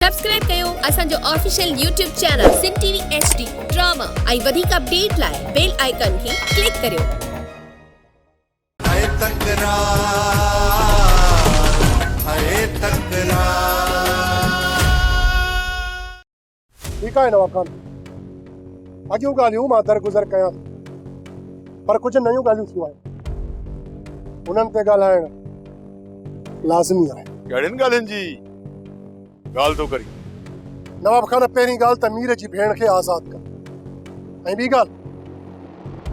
Subscribe ڪيو اسان جو official YouTube channel Sindh TV H D drama ۽ وڌيڪ اپڊيٽ لاء بيل آئيڪان کي ڪلڪ ڪريو. هيء تڪرار هيء تڪرار. ٺيڪ آهي نواب خان اڳيون ڳالهيون مان درگذر ڪيان ٿو پر ڪجهه نيون ڳالهيون ٿيون آهن انهن تي ڳالهائڻ لازمي آهي. ڪهڙين ڳالهين جي؟ ڳالهه ٿو ڪرين. نواب خان پهرين ڳالهه ته مير جي ڀيڻ کي آزاد ڪر ۽ ٻي ڳالهه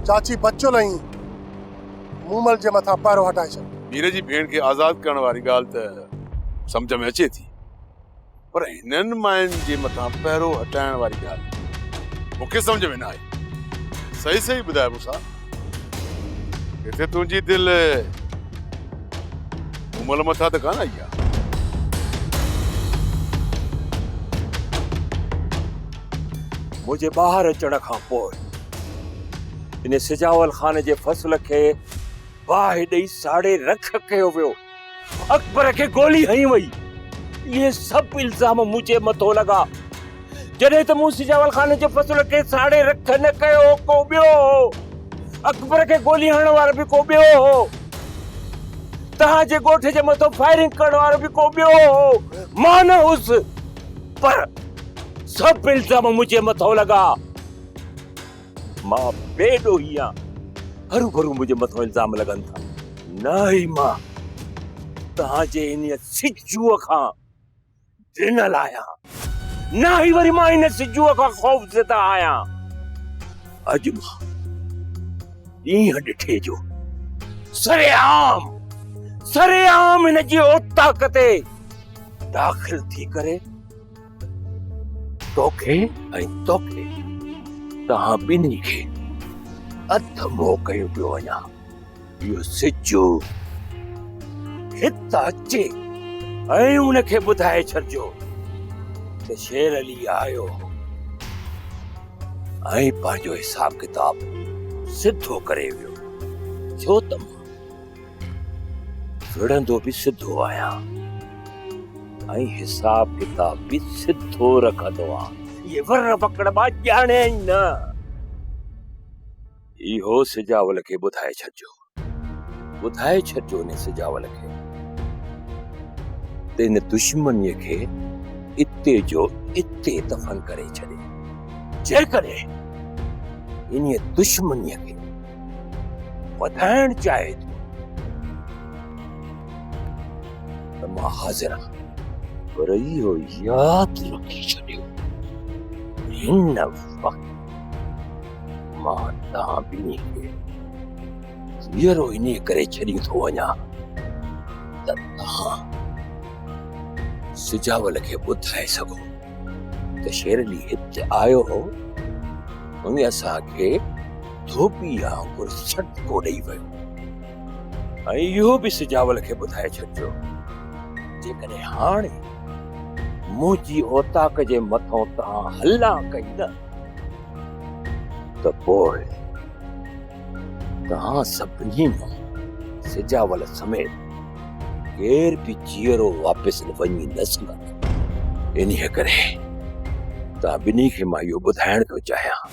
چاچي بچل ۽ مومل جي مٿان پهرو هٽائي ڇڏ. مير جي ڀيڻ کي آزاد ڪرڻ واري ڳالهه ته سمجهه ۾ اچي ٿي پر هنن ماين جي مٿان پهرو هٽائڻ واري ڳالهه مون کي سمجهه ۾ نه آئي. صحيح صحيح ٻڌاء مون سان. ڪٿي تنهنجي دل مومل مٿان ته ڪانه آئي آ. منهنجي ٻاهر اچڻ کان پوء ان سجاول خان جي فصل کي باهه ڏئي ساڙي رک ڪيو ويو. اڪبر کي گولي هنئي وئي. اهي سڀ الزام منهنجي مٿو لڳا. جڏهن ته مون سجاول خان جي فصل کي ساڙي رک نه ڪيو، ڪو ٻيو هو. اڪبر کي گولي هڻڻ وارو به ڪو ٻيو هو. توهان جي ڳوٺ جي مٿو فائرنگ ڪرڻ وارو به ڪو ٻيو هو. مان نه هوس. پر سڀ الزام منهنجي مٿو لڳا. مان بي ڏوهي آهيان، هروڀرو منهنجي مٿان الزام لڳن ٿا. نه ئي مان توهان جي انهيء سجوء کان ڊنل آهيان، نه ئي وري مان ان سجوء کان خوفزده آهيان. اڄ مان ڏينهن ڏٺي جو سرعام، سرعام هن جي اوطاق تي داخل ٿي ڪري، توکي ۽ توکي توهان ٻنهي کي اڌ مو ڪيو پيو وڃان اهو سچو هت اچي ۽ ان کي ٻڌائي ڇڏجو ته شير علي آيو ۽ پنهنجو حساب ڪتاب سڌو ڪري ويو ڇو ته وڙهندو به سڌو آهيان ۽ حساب ڪتاب به سڌو رکندو آهيان. اهي ور وڪڙ مان ڄاڻيا ئي نه. اهو سجاول کي ٻڌائي ڇڏجو. ٻڌائي ڇڏجو ان سجاول کي ته ان دشمنيء کي اتي جو اتي دفن ڪري ڇڏي. جيڪڏهن انهيء دشمنيء کي وڌائڻ چاهي ٿو ته مان حاضر آهيان پر اهو ياد رکي ڇڏيو هن وقت مان توهان ٻنهي کي جيئرو ان ڪري ڇڏي ٿو وڃا ته توهان سجاول کي ٻڌائي سگهو ته شيرلي هت آيو هو هن اسان کي ڌوٻي آنگر سٽڪو ڏئي ويو ۽ اهو به سجاول کي ٻڌائي ڇڏجو جيڪڏهن هاڻي منهنجي اوطاق جي مٿان توهان هلا ڪئي نه ته پوء توهان سڀني مان سجاول سميت ڪير به جيئرو واپس وڃي نه سگهندو انهيء ڪري توهان ٻنهي کي مان اهو ٻڌائڻ ٿو چاهيان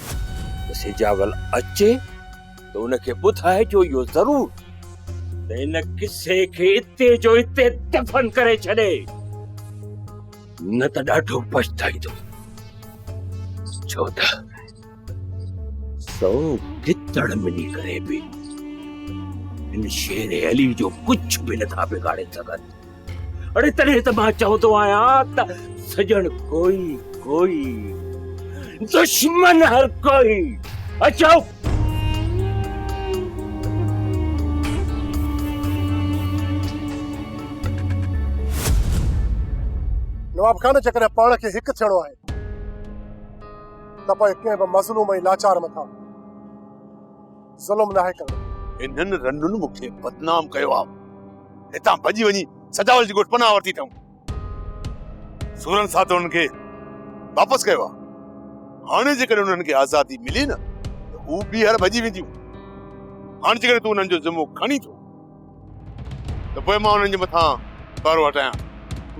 ته سجاول اچي ته ان کي ٻڌائجو اهو ضرور ته ان قصي کي اتي جو اتي دفن ڪري ڇڏي نه ته ڏاڍو پڇتائيندو ڇو ته سو گتڙ ملي ڪري به ان شير علي جو ڪجهه به نٿا بگاڙي سگهن اڙي تڏهن ته مان چوندو آهيان ته سڄڻ ڪوئي ڪوئي دشمن هر ڪوئي اچو نواب خان جيڪڏهن پاڻ کي هڪ ٿيڻو آهي ته پوء ڪنهن به مظلوم ۽ لاچار مٿان ظلم ناهي ڪرڻو. انهن رنڊن مون کي بدنام ڪيو آ. هتان ڀڄي وڃي سجاول جي ڳوٺ پناهه ورتي اٿئون. سورن ساٿ انهن کي واپس ڪيو آ. هاڻي جيڪڏهن انهن کي آزادي ملي نه ته هو ٻيهر ڀڄي وينديون. هاڻي جيڪڏهن تون انهن جو ذمو کڻين ٿو ته پوء مان انهن جي مٿان پهرو هٽايان.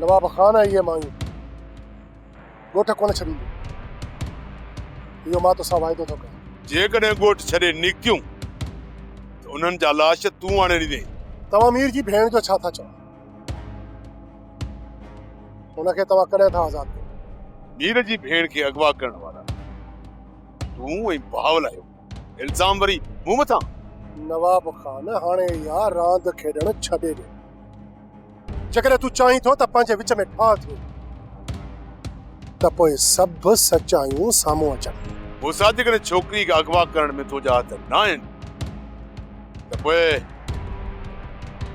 نواب خان اهي مايون. ڳوٺ ڪونه ڇڏيندين. اهو مان توسان واعدو ٿو ڪريان. جيڪڏهن ڳوٺ ڇڏي نڪتيون ته انهن جا لاش تون آڻي ڏيندين. توهان مير جي ڀيڻ جو ڇا ٿا چئو؟ ان کي توهان ڪڏهن ٿا آزاد ڪريو؟ مير جي ڀيڻ کي اغوا ڪرڻ وارا تون ۽ بهاول آهيو. الزام وري مون مٿان؟ نواب خان هاڻي اها راند کيڏڻ ڇڏي ڏي. جيڪڏهن تون چاهين ٿو ته پنهنجي وچ ۾ ٺاهه ٿيون ته پوء سڀ سچايون سامهون اچن. موسيٰ جيڪڏهن ڇوڪري کي اغوا ڪرڻ ۾ تنهنجا هٿ نه آهن ته پوء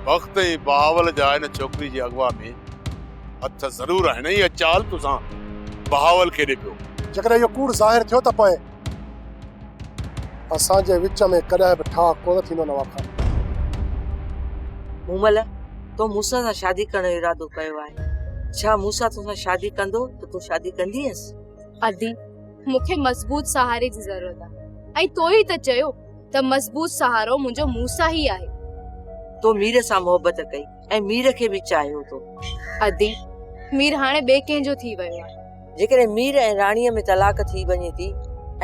بخت ۽ بهاول جا ان ڇوڪري جي اغوا ۾ هٿ ضرور آهن ۽ اها چال توسان بهاول کي ڏي پيو. جيڪڏهن اهو ڪوڙ ظاهر ٿيو ته پوء. اسان جي وچ ۾ ڪڏهن به ٺاهه ڪونه ٿيندو نواب خان. مومل، تو مون سان شادي ڪرڻ جو ارادو ڪيو آهي، ڇا مون سان توسان شادي ڪندو ته تون شادي ڪندينس؟ ادي، مون کي مضبوط سهاري جي ضرورت آهي ۽ تو ئي ته چيو ته مضبوط سهارو منهنجو مون سان ئي آهي. تو مير سان محبت ڪئي ۽ مير کي به چاهيو ٿو. ادي، مير هاڻي ٻئي ڪنهن جو ٿي ويو آهي. جيڪڏهن مير ۽ راڻيء ۾ طلاق ٿي وڃي ٿي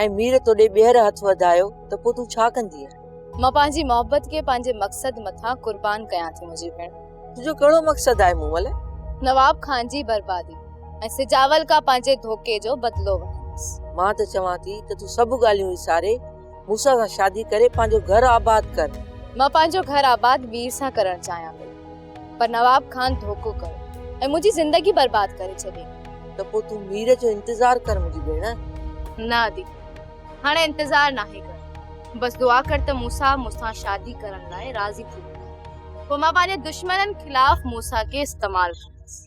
۽ مير توڏي ٻيهر هٿ وڌايو ته پوء تون ڇا ڪندينء؟ مان پنهنجي محبت کي پنهنجي مقصد مٿان قربان ڪيان ٿي منهنجي ڀيڻ. تنهنجو ڪهڙو مقصد آهي مون ول؟ نواب خان جي بربادي ۽ سجاول کان پنهنجي ڌوڪي جو بدلو وٺندس. مان ته چوان ٿي ته تون سڀ ڳالهيون وساري موسيٰ سان شادي ڪري پنهنجو گهر آباد ڪر. مان پنهنجو گهر آباد مير سان ڪرڻ چاهيان پئي. پر نواب خان ڌوڪو ڪيو ۽ منهنجي زندگي برباد ڪري ڇڏي. ته پوء تون مير جو انتظار ڪر منهنجي ڀيڻ. نه ادي، هاڻي انتظار ناهي ڪرڻو. بس دعا ڪر ته موسيٰ مون سان شادي ڪرڻ لاء راضي ٿي وڃي. پوء مان پنهنجي دشمنن خلاف موسيٰ کي استعمال ڪندس.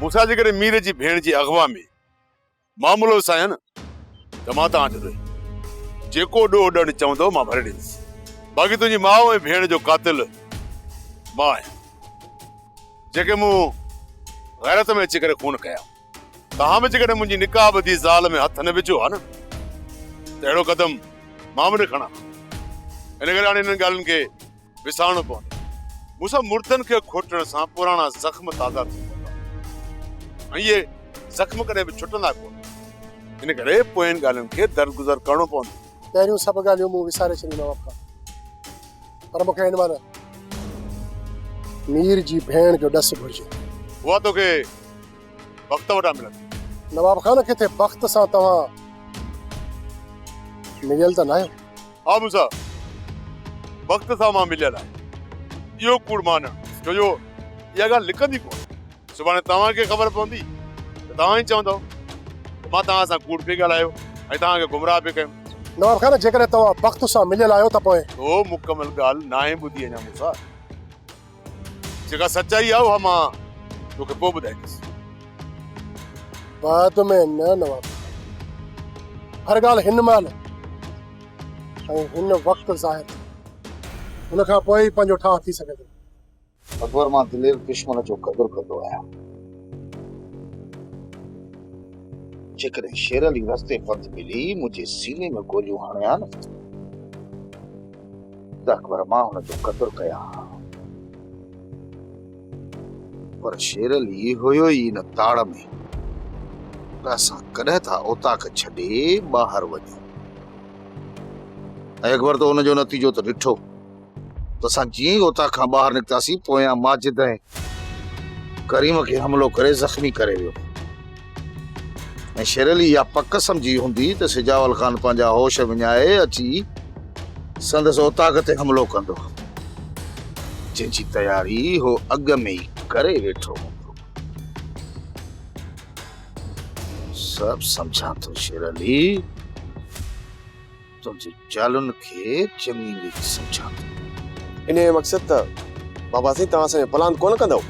موسيٰ جي ڪري مير جي ڀيڻ جي اغوا ۾ معاملو وسايان ته مان توهان آڏو رهي جيڪو ڏوهه ڏيڻ چوندو مان ڀري ڏيندس باقي تنهنجي ماء ۽ ڀيڻ جو قاتل مان آهيان جيڪي مون غيرت ۾ اچي ڪري خون ڪيا توهان به جيڪڏهن منهنجي نڪاح ٻڌي زال ۾ هٿ نه وجهو ها نه ته اهڙو قدم مان به نه کڻان ها. ان ڪري هاڻي انهن ڳالهين کي وسارڻو پوندو. مون سان مردن کي کوٽڻ سان پراڻا زخم تازا ٿي پوندا ۽ اهي زخم ڪڏهن به ڇٽندا ڪونه. ان ڪري پوين ڳالهين کي درگذر ڪرڻو پوندو. پهريون سڀ ڳالهيون مون وساري ڇڏيون ماء باپ کان. پر مون کي هن مان مير جي ڀيڻ جو ڏس گهرجي. اها توکي بخت وٽان ملندي. نواب خان، ڪٿي بخت سان توهان مليل ته ناهيو؟ ها موسيٰ، بخت سان مان مليل آهيان. اهو ڪوڙ مانڻ، ڇو جو اها ڳالهه لڪندي ڪونه. سڀاڻي توهان کي خبر پوندي ته توهان ئي چوندؤ ته مان توهان سان ڪوڙ پئي ڳالهايو ۽ توهان کي گمراهه پئي ڪيم. نواب خان، جيڪڏهن توهان بخت سان مليل آهيو ته پوء. تو مڪمل ڳالهه ناهي ٻڌي اڃا موسيٰ. جيڪا سچائي آهي اها مان تو کي پوء ٻڌائيندس. بعد ۾ نه نواب خان. هر ڳالهه هن مهل ۽ هن وقت ظاهر ٿئي. ان کان پوء ئي پنهنجو ٺاهه ٿي سگهي ٿو. اڪبر مان دلير دشمن جو قدر ڪندو آهيان. جيڪڏهن شير علي رستي پنڌ ملي منهنجي سيني ۾ گوليون هڻي ها نه ته اڪبر مان هن جو قدر ڪيان ها. پر شير علي هيو ئي ان تاڙ ۾ ته اسان ڪڏهن ٿا اوطاق ڇڏي ٻاهر وڃون. ۽ اڪبر ته ان جو نتيجو ته ڏٺو. ته اسان جيئن ئي اوطاق کان ٻاهر نڪتاسين پويان ماجد ۽ ڪريم کي حملو ڪري زخمي ڪري ويو ۽ شيرعلي اها پڪ سمجهي هوندي ته سجاول خان پنهنجا هوش وڃائي اچي سندس اوطاق تي حملو ڪندو جنهن جي تياري هو اڳ ۾ ئي ڪري ويٺو هوندو سڀ سمجهان ٿو شيرعلي تنهنجي چالن کي چڱي ريت سمجهان ٿو. انهيء جو مقصد ته بابا سائين توهان اسان جو پلان ڪونه ڪندؤ؟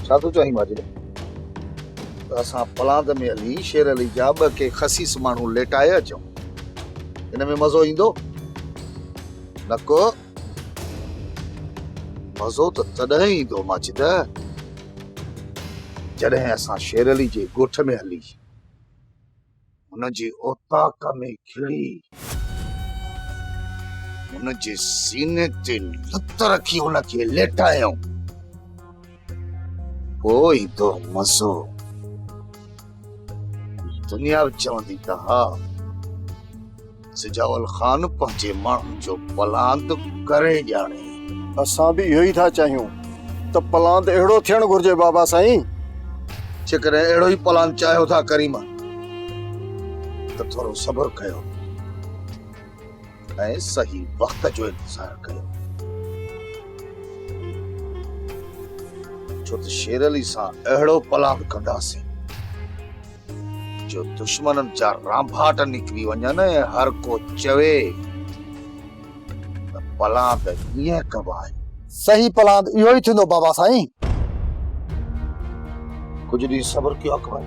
ڇا ٿو چاهين ماجري؟ ته اسان پلاند ۾ هلي شير علي جا ٻه ڪي خسيس ماڻهو ليٽائي اچون؟ ان ۾ مزو ايندو؟ نڪو مزو ته تڏهن ايندو ماجده جڏهن اسان شير علي جي ڳوٺ ۾ هلي هن جي اوطاق ۾ کڙي هن جي سيني تي لت رکي هن کي ليٽايائون پوء ايندو مزو دنيا به چوندي ته ها سجاول خان پنهنجي ماڻهن جو پلاند ڪري ڄاڻي. اسان به اهو ئي ٿا چاهيون ته پلاند اهڙو ٿيڻ گهرجي بابا سائين. جيڪڏهن اهڙو ئي پلاند چاهيو ٿا ڪريما ته ٿورو صبر ڪيو ۽ صحيح وقت جو انتظار ڪيو ڇو ته شير علي سان اهڙو پلاند ڪنداسين جو دشمنن جا رانڀاٽ نڪري وڃن ۽ هر ڪو چوي ته پلاند هيئن ڪبو آهي. صحيح پلاند اهو ئي ٿيندو بابا سائين. ڪجهه ڏينهن صبر ڪيو اڪبر.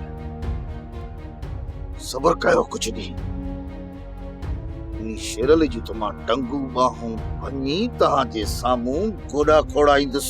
صبر ڪيو ڪجهه ڏينهن. انهي شيرلي جون ته مان ٽنگون ٻانهون ڀڃي توهان جي سامهون گوڏا کوڙائيندس.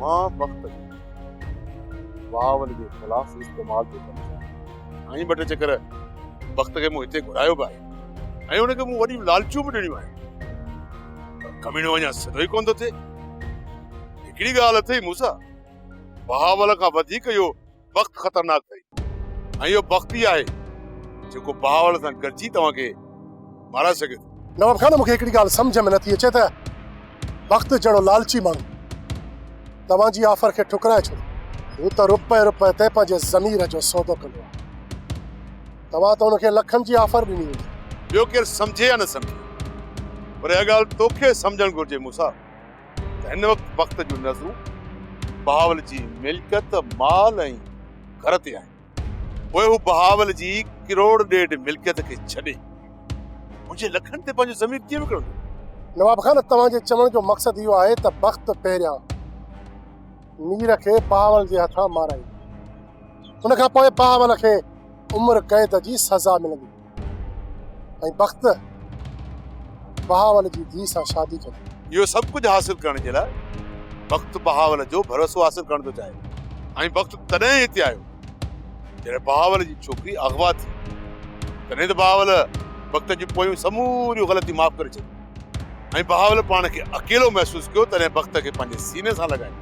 مان وقت جي واء جي خلاف استعمال ٿو ڪري ڇڏيان. سائين ٻه ٽي چڪر وقت کي مون هتي گهرايو به آهي ۽ ان کي مون وڏيون لالچون به ڏنيون آهن پر ڪميڻو اڃا سڌو ئي ڪونه ٿو ٿئي. هڪڙي ڳالهه اٿئي مون سان بهاول کان وڌيڪ اهو بخت خطرناڪ اٿئي ۽ اهو بخت ئي آهي جيڪو بهاول سان گڏجي توهان کي مارائي سگهي ٿو. نواب خان مون کي هڪڙي ڳالهه سمجهه ۾ نه ٿي اچي ته بخت جهڙو لالچي ماڻهو توهان جي آفر کي ٺڪرائي ڇڏي. هو ته رپئي رپئي تي پنهنجي ضمير جو سودو ڪندو آهي. توهان ته هن کي لکن جي آفر ڏني هوندي. ٻيو ڪير سمجهي يا نه سمجهي پر اها ڳالهه توکي سمجهڻ گهرجي موسيٰ ته هن وقت جون نظرون بهاول جي ملڪيت، مال ۽ گهر تي آهن. پوء هو بهاول جي ڪروڙ ڏيڍ ملڪيت کي ڇڏي، منهنجي لکن تي پنهنجو ضمير ڪيئن وڪڻندو؟ نواب خان توهان جي چوڻ جو مقصد اهو آهي ته بخت پهريان مير کي بهاول جي هٿان مارائيندو، ان کان پوء بهاول کي عمر قيد جي سزا ملندي. ۽ بخت بهاول جي ڌيء سان شادي ڪندو. اهو سڀ ڪجهه حاصل ڪرڻ جي لاء بخت بهاول جو ڀروسو حاصل ڪرڻ ٿو چاهي. ۽ بخت تڏهن هتي آيو جڏهن بهاول جي ڇوڪري اغوا ٿي. تڏهن ته بهاول بخت جون پويون سموريون غلطيون معاف ڪري ڇڏيون. ۽ بهاول پاڻ کي اڪيلو محسوس ڪيو تڏهن بخت کي پنهنجي سيني سان لڳائي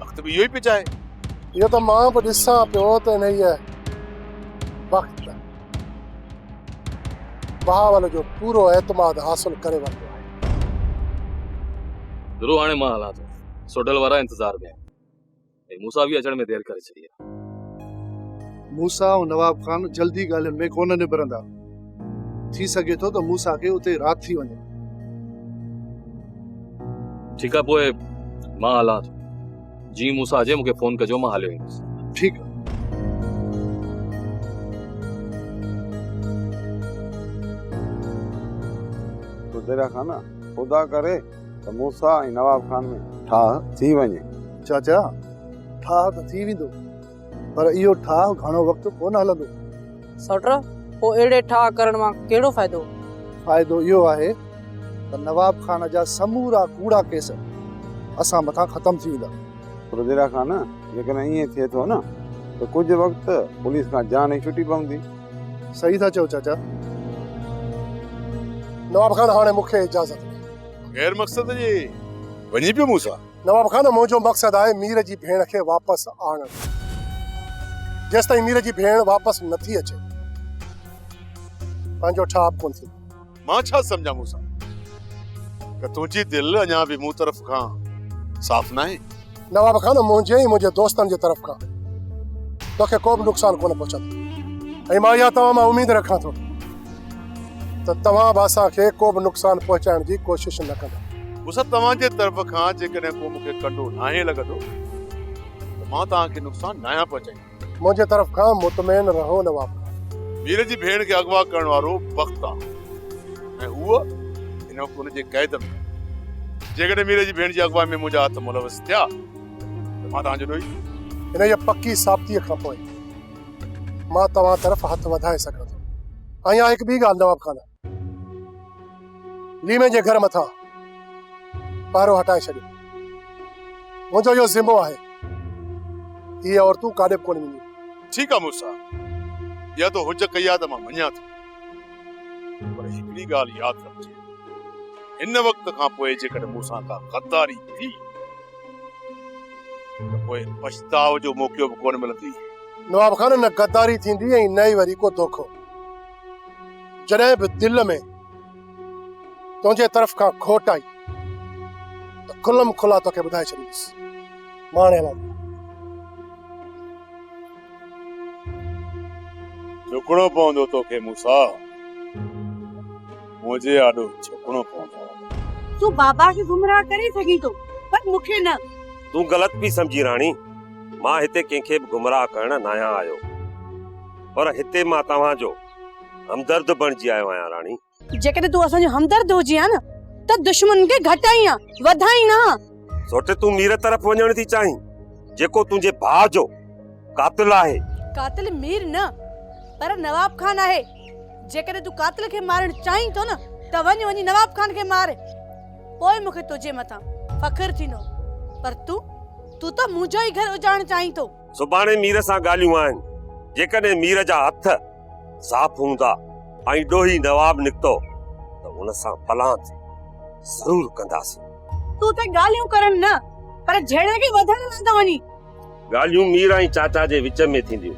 بخت به اهو ئي پئي چاهي. اهو ته مان به ڏسان پيو ته انهيء بخت بهاول جو پورو اعتماد حاصل ڪري ورتو آهي. گرو هاڻي مان هلان ٿو. سوڍل وارا انتظار ۾ آهن. ۽ موسيٰ به اچڻ ۾ دير ڪري ڇڏي آهي. موسيٰ ۽ نواب خان جلدي ڳالهين ۾ ڪونه نبرندا. ٿي سگهي ٿو ته موسيٰ کي اتي رات ٿي وڃي. ٺيڪ آهي پوء مان هلان ٿو. جيئن موسيٰ اچي مون کي فون ڪجو مان هليو ايندس. ٺيڪ آهي. تو دريا خان خدا ڪري ته موسيٰ ۽ نواب خان ۾ ٺاهه ٿي وڃي. چاچا، ٺاهه ته ٿي ويندو، پر اهو ٺاهه گهڻو وقت ڪونه هلندو. سئوٽر، پوء اهڙي ٺاهه ڪرڻ مان ڪهڙو فائدو؟ فائدو اهو آهي ته نواب خان جا سمورا ڪوڙا ڪيس اسان مٿان ختم ٿي ويندا. رضيلا خان جيڪڏهن ائين ٿئي ٿو نه ته ڪجهه وقت پوليس کان جان ئي ڇٽي پوندي. صحيح ٿا چئو چاچا. نواب خان هاڻي مون کي اجازت ڏي. غير مقصد جي وڃي پيو مون سان. نواب خان منهنجو مقصد آهي مير جي ڀيڻ کي واپس آڻڻ. جيستائين مير جي ڀيڻ واپس نٿي اچي پنهنجو ٺاهپ ڪونه ٿيندو. مان ڇا سمجهان موسيٰ ته تنهنجي دل اڃا به مون طرف کان صاف ناهي. نواب خان منهنجي ۽ منهنجي دوستن جي طرف کان توکي ڪو به نقصان ڪونه پهچندو ۽ مان اها توهان مان اميد رکان ٿو ته توهان به اسان کي ڪو به نقصان پهچائڻ جي ڪوشش نه ڪندا. موسيٰ توهان جي طرف کان جيڪڏهن ڪو مون کي ڪنڊو ناهي لڳندو ته مان توهان کي نقصان ناهيان پهچائيندو. منهنجي طرف کان مطمئن رهو نواب خان. مير جي ڀيڻ کي اغوا ڪرڻ وارو بخت آ ۽ هوء هن وقت ان جي قيد ۾ آهي. جيڪڏهن مير جي ڀيڻ جي اغوائي ۾ منهنجا هٿ ملوث ٿيا ته مان توهان جو ڏوهي ٿيندس. انهيء پڪي ثابتيء کان پوء مان توهان طرف هٿ وڌائي سگهان ٿو. ۽ آء هڪ ٻي ڳالهه نواب خان! ليمي جي گهر مٿان پهرو هٽائي ڇڏيو منهنجو اهو ذمو آهي هي عورتون ڪاڏي به ڪونه وينديون ٺيڪ آهي مڙس اها تو هج ڪئي آهي ته مان مڃان ٿو پر هڪڙي ڳالهه ياد رکجي هن وقت کان پوء جيڪڏهن مون سان ڪا غداري ٿي ته پوء پڇتاء جو موقعو به ڪونه ملندي نواب خان نه غداري ٿيندي ۽ نه ئي وري ڪو دوکو جڏهن به دل ۾ تنهنجي طرف کان کوٽ آئي ته کلم کلا توکي ٻڌائي ڇڏيندس ماڻي لاء جھڪڻو پوندو توکي موسا منهنجي آڏو جھڪڻو پوندو تو بابا کي گمراهه ڪري سگهين ٿو پر مون کي نه تون غلط پي سمجهي راڻي مان هتي ڪنهن کي به گمراهه ڪرڻ نه آهيان آيو پر هتي مان توهان جو همدرد بڻجي آيو آهيان راڻي. جيڪڏهن تون اسان جو همدرد هجين ها نه ته دشمنن کي گهٽائين ها وڌائين نه ها. سوٽ تون مير طرف وڃڻ ٿي چاهين جيڪو تنهنجي ڀاء جو قاتل آهي. قاتل مير نه پر نواب خان آهي. جيڪڏهن تون قاتل کي مارڻ چاهين ٿو نه ته وڃ وڃي نواب خان کي مار. پوء مون کي تنهنجي مٿان فخر ٿيندو. پر تون تون ته منهنجو ئي گهر اجاڙڻ چاهين ٿو. سڀاڻي مير سان ڳالهيون آهن، جيڪڏهن مير جا هٿ صاف هوندا ۽ ڏوهي نواب نڪتو ته ان سان پلان تي ضرور ڪنداسين. تون ته ڳالهيون ڪرڻ نه پر جهيڙي کي وڌڻ لاء ٿو وڃين. ڳالهيون مير ۽ چاچا جي وچ ۾ ٿينديون،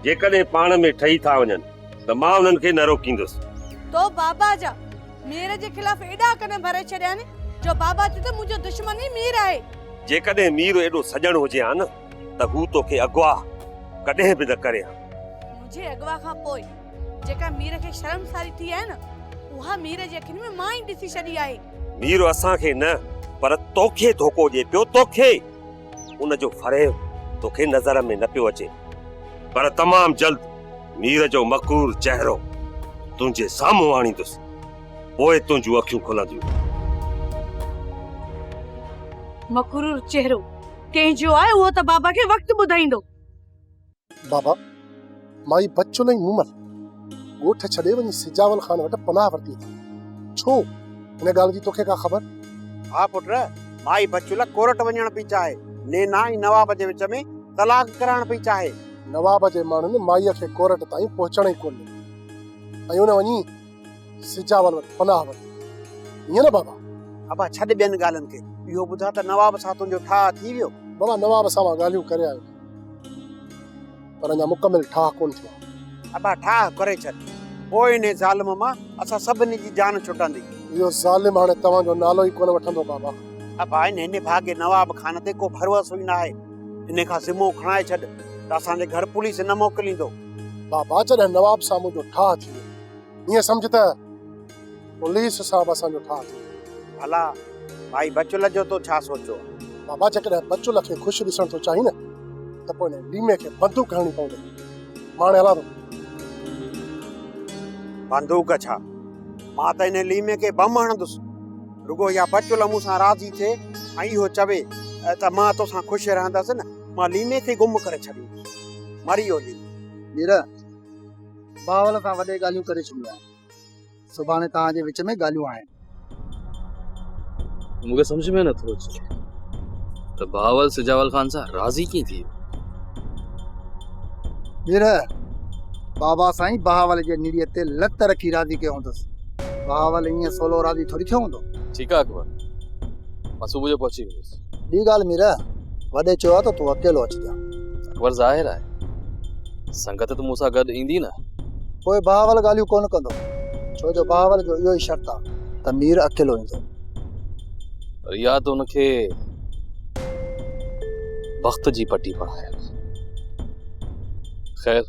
جيڪڏهن پاڻ ۾ ٺهي ٿا وڃن ته مان انهن کي نه روڪيندس. تو بابا جا مير جي خلاف ايڏا ڪن ڀري ڇڏيا آهن جو بابا چئي ٿو منهنجو دشمن ئي مير آهي. جيڪڏهن مير ايڏو سڄڻ هجي ها نه ته هو توکي اغوا ڪڏهن به نه ڪري ها. منهنجي اغوا کان پوء جيڪا مير کي شرمساري ٿي آهي نه اها مير جي اکين ۾ مان ئي ڏسي ڇڏي آهي. مير اسان کي نه پر توکي ڌوڪو ڏئي پيو توکي ان جو فريب توکي نظر ۾ نه پيو اچي پر تمام جلد مير جو مڪرور چهرو تنهنجي سامهون آڻيندس پوء تنهنجون اکيون کلنديون. مڪرور چهرو! ڪنهن جو آهي اهو ته بابا کي وقت ٻڌائيندو. بابا، مائي بچن ۽ مومل ڳوٺ ڇڏي وڃي سجاول خان وٽ پناهه ورتي اٿن. ڇو؟ ان ڳالهه جي توکي ڪا خبر؟ ها پٽ، مائي بچل ڪورٽ وڃڻ پئي چاهي. نينا ۽ نواب جي وچ ۾ طلاق ڪرائڻ پئي چاهي. نواب جي ماڻهن مائيء کي ڪورٽ تائين پهچڻ ئي ڪو ڏنو ۽ ان وڃي. سجاول وٽ پناهه ورتي ائين نه بابا؟ ابا ڇڏ ٻين ڳالهين کي اهو ٻڌاء ته نواب سان تنهنجو ٺاهه ٿي ويو؟ بابا نواب سان مان ڳالهيون ڪري آيو پر اڃا مڪمل ٺاهه ڪونه ٿيو آهي. ابا ٺاهه ڪري ڇڏ پوء انهي ظالم مان اسان سڀني جي جان ڇٽندي. اهو ظالم هاڻي توهان جو نالو ئي ڪونه وٺندو بابا. ابا انهي نڀاڳي نواب خان تي ڪو ڀروسو ئي ناهي انهي کان ذمو کڻائي ڇڏ ته اسان جي گهر پوليس نه موڪليندو. بابا جڏهن نواب سان منهنجو ٺاهه ٿي ويو ائين سمجهه ته پوليس صاحب اسان جو ٺاهه ٿي ويو. ڀلا ڀائي بچل جو تو ڇا سوچيو؟ بابا جيڪڏهن بچل کي خوش ڏسڻ ٿو چاهين نه ته پوء هن ليمي کي بندوق هڻڻي پوندي. مان هاڻي هلان ٿو. بندوق ڇا؟ مان ته هن ليمي کي بم هڻندس. رڳو اها بچل مون سان راضي ٿئي ۽ اهو چوي ته مان تو سان خوش رهندس نه مان ليمي کي گم ڪري ڇڏيندس. مري ويو ليمي. ميرا! باول کان وڏي ڳالهيون ڪري ڇڏيون آهن سڀاڻي توهان جي وچ ۾ ڳالهيون آهن. مون کي سمجھ ۾ نٿو اچي ته باول سجاول خان سان راضي ڪيئن ٿي ويو ٻير بابا سائين بهاول جي نيڙيء تي لت رکي راضي ڪيو هوندس بهاول ائين سولو راضي ٿوري ٿيو هوندو ٺيڪ آهي اڪبر مان صبح جو پهچي ويندس ٻي ڳالهه ميرا، وڏي چيو آهي ته تون اڪيلو اچجان. اڪبر، ظاهر آهي، سنگت ته مون سان گڏ ايندي نه. پوء بهاول ڳالهيون ڪونه ڪندو، ڇو جو بهاول جو اهو ئي شرط آهي ته مير اڪيلو ايندو. پر اها ته هن کي بخت جي پٽي پڙهايل آهي. خير!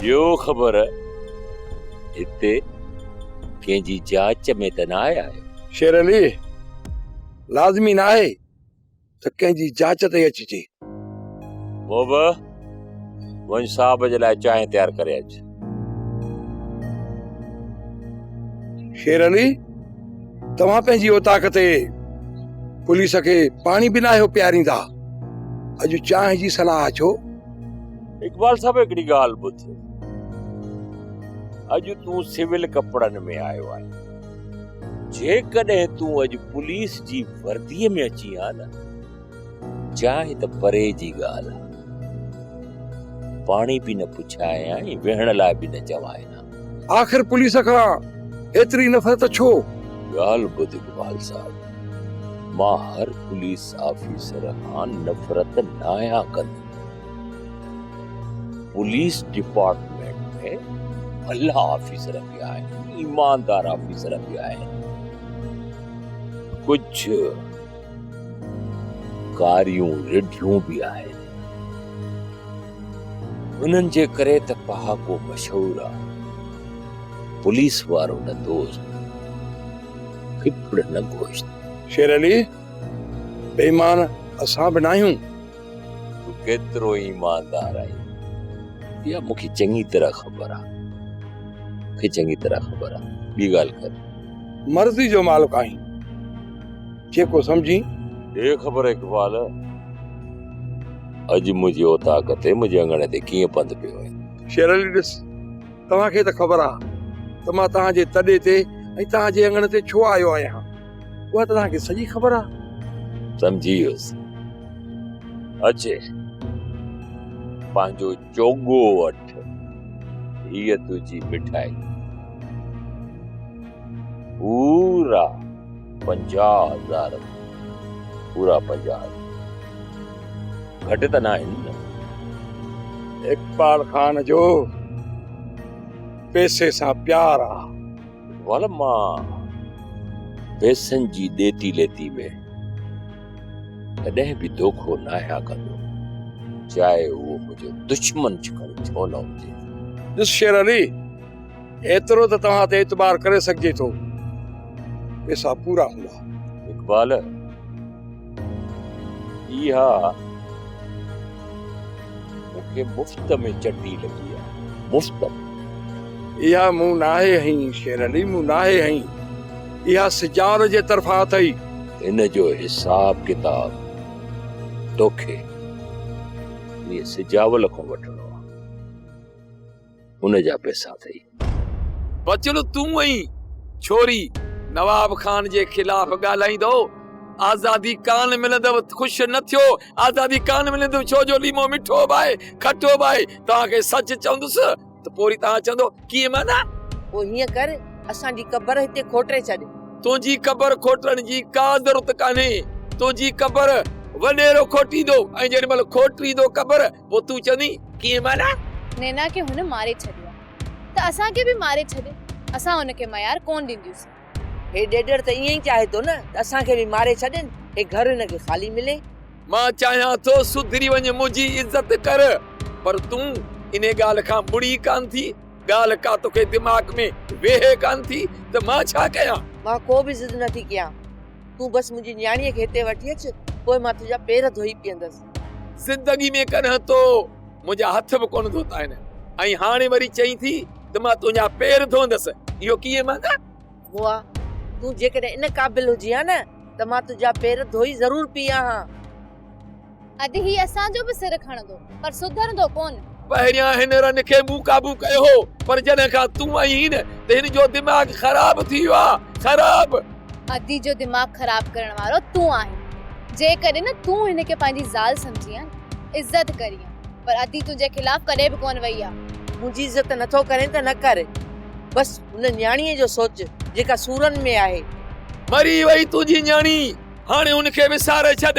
ڏيو خبر هتي ڪنهن جي جاچ ۾ ته ناهي آيو. شير علي، لازمي ناهي ته ڪنهن جي جاچ تي اچجي. بوبه، وڃ صاحب جي لاء چانهه تيار ڪري اچ. شير علي توهان پنهنجي اوطاق تي پوليس کي پاڻي به ناهيو پياريندا اڄ چانهه جي صلاح ڇو اقبال صاحب هڪڙي ڳالهه ٻڌ اڄ تون سول ڪپڙن ۾ آيو آهي جيڪڏهن تون اڄ پوليس جي ورديء ۾ اچي ها نه جاء ته پري جي ڳالهه آ. پاڻي به نه پڇايان ۽ ويهڻ لاء به نه چواين ها. آخر پوليس کان ايتري نفرت ڇو؟ ڳالهه ٻڌ اقبال صاحب، مان هر پوليس آفيسر کان نفرت ناهيان ڪندو. پوليس ڊپارٽمينٽ ۾ ڀلا آفيسر به آهن، ايماندار آفيسر به آهن. ڪجهه ڪاريون رڍيون به آهن. انهن جي ڪري ته پهاڪو مشهور آ. پوليس وارو نه دوست، ڦڦڙ نه گوشت. شير علي، بيمان اسان به ناهيون. تون ڪيترو ايماندار آهين اها مون کي چڱي طرح خبر آ مون کي چڱي طرح خبر آ ٻي ڳالهه ڪر مرضي جو مالڪ آهين جيڪو سمجهين ڏي خبر اقبال اڄ منهنجي اوطاق تي منهنجي اڱڻ تي ڪيئن پنڌ پيو آهي شير علي ڏس توهان کي ته خبر آ ته مان توهان جي تڏي تي ۽ توهان جي اڱڻ تي ڇو آيو آهيان اها ته توهان کي سڄي خبر آهي. سمجهي ويس. اچي پنهنجو چوڳو وٺ. هيء تنهنجي مٺائي. پورا پنجاهه هزار. پورا پنجاهه هزار. گهٽ ته ناهن نه. اقبال خان جو پئسي سان پيار آهي. ول مان پئسن جي ڏيتي ليتي ۾ ڪڏهن به دوکو ناهيان ڪندو، چاهي اهو منهنجو دشمن ڇڪڻ ڇو نه هجي. ڏس شير علي، ايترو ته توهان تي اعتبار ڪري سگهجي ٿو، پئسا پورا هوندا. اقبال! اها مون کي مفت ۾ چٽي لڳي آهي. مفت ۾. اها مون ناهي هنئي شير علي، مون ناهي هنئي. اها سجاد جي طرفان اٿئي. هن جو حساب ڪتاب توکي مير سجاول کان وٺڻو آهي. ان جا پئسا اٿئي. بچڙو تون ائين ڇوري نواب خان جي خلاف ڳالهائيندو آزادي ڪانه ملندو خوش نه ٿيو آزادي ڪانه ملندو ڇو جو ليمو مٺو به آهي کٽو به آهي توهان کي سچ چوندس ته پوري توهان چوندو ڪيئن معنيٰ پوء هيئن ڪر اسان جي قبر هتي کوٽري ڇڏ. تنهنجي قبر کوٽرڻ جي ڪا ضرورت ڪانهي تنهنجي قبر وڏيرو کوٽيندو ۽ جيڏي مهل کوٽيندو قبر پوء تون چوين ڪيئن ماريان؟ نينا کي هن ماري ڇڏيو آهي ته اسان کي به ماري ڇڏي، اسان هن کي ميار ڪونه ڏينديونسين. هي ڏيڏر ته ائين ئي چاهي ٿو نه ته اسان کي به ماري ڇڏين، هي گهر هن کي خالي ملي. مان چاهيان ٿو سڌري وڃ منهنجي عزت ڪر، پر تون انهي ڳالهه کان ٻڙي ڪانه ٿي، ڳالهه ڪا توکي دماغ ۾ ويهي ڪانه ٿي ته مان ڇا ڪيان؟ مان ڪو به ضد نه ٿي ڪيان، تون بس منهنجي نياڻيء کي هتي وٺي اچ، پوء مان تنهنجا پير ڌوئي پيئندس. زندگي ۾ ڪڏهن تو منهنجا هٿ به ڪونه ڌوتا آهن ۽ هاڻي وري چئين ٿي ته مان تنهنجا پير ڌوندس اهو ڪيئن مانا موئا تون جيڪڏهن ان قابل هجين ها نه ته مان تنهنجا پير ڌوئي ضرور پيئان ها. اڌ هي اسان جو به سر کڻندو پر سڌرندو ڪونه. پهريان هن رن کي مون قابو ڪيو هو پر جڏهن کان تون آئين ته هن جو دماغ خراب ٿي ويو آهي خراب. ادي جو دماغ خراب ڪرڻ وارو تون آهين جيڪڏهن نه تون هن کي پنهنجي زال سمجهين عزت ڪرين پر ادي تنهنجي خلاف ڪڏهن به ڪونه وئي آهي. منهنجي عزت نٿو ڪرين ته نه ڪر بس هن نياڻيء جو سوچ جيڪا سورن ۾ آهي. مري وئي تنهنجي نياڻي هاڻي ان کي وساري ڇڏ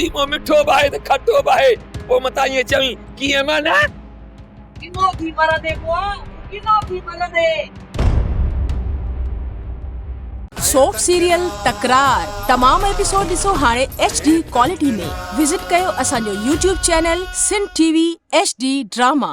ليمو مٺو به آهي ته کٽو به آهي پوء متان ائين چوين ڪيئن معنيٰ. ڪنو ٿي مرندي ڪو ڪنو ٿي مرندي. سوپ سيريل تڪرار تمام ايپيسوڊ ڏسو هاڻي ايڇ ڊي ڪوالٽي ۾ وزٽ ڪيو اسان جو YouTube channel Sindh TV H D drama.